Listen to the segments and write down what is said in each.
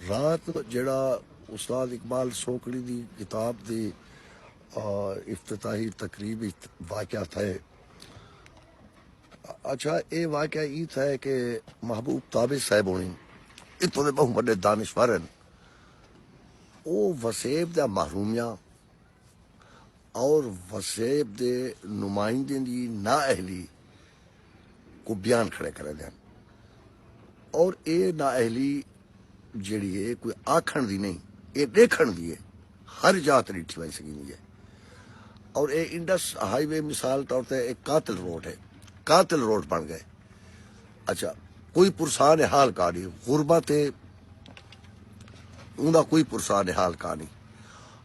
رات جیڑھا استاد اقبال سوکڑی دی کتاب دی افتتاحی تقریب واقعہ تھے اچھا اے واقعہ ای تھے کہ محبوب تابع صاحب ہونی اتوں دے بہو بڑے دانشور ہیں او وسیب دا محرومیاں اور وسیب دے نمائندیں دی نااہلی کوں بیان کھڑے کریندے ہن اور اے نااہلی جیڑھی ہے کوئی آکھن دی نہیں اے ڈیکھن دی ہے ہر جاہ تے ڈٹھی ونج سگیندی ہے اور اے انڈس ہائی وے مثال طور تے ایک قاتل روڈ ہے قاتل روڈ بن گئے اچھا کوئی پرسان حال کا نہیں غربت ہے اوندا کوئی پرسان حال کا نہیں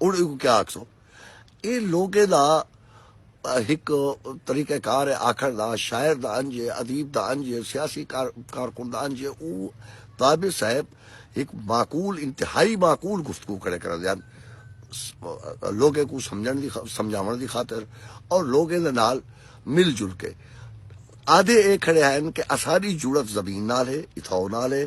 ہن ایکوں کیا آکھسوں اے لوکیں دا ہک طریقہ کار ہے آکھݨ دا شاعر دا انج ہے ادیب دا انج ہے سیاسی کارکن دا انج ہے او طابر صاحب ہک معقول انتہائی معقول گفتگو کھڑے کریندے ہن لوکیں کوں سمجھݨ دی سمجھاوݨ دی خاطر اور لوکیں دے نال مل جل کے آدھے اے کھڑے ہن کہ اساݙی جڑت زمین نال ہے اتھاؤ نال ہے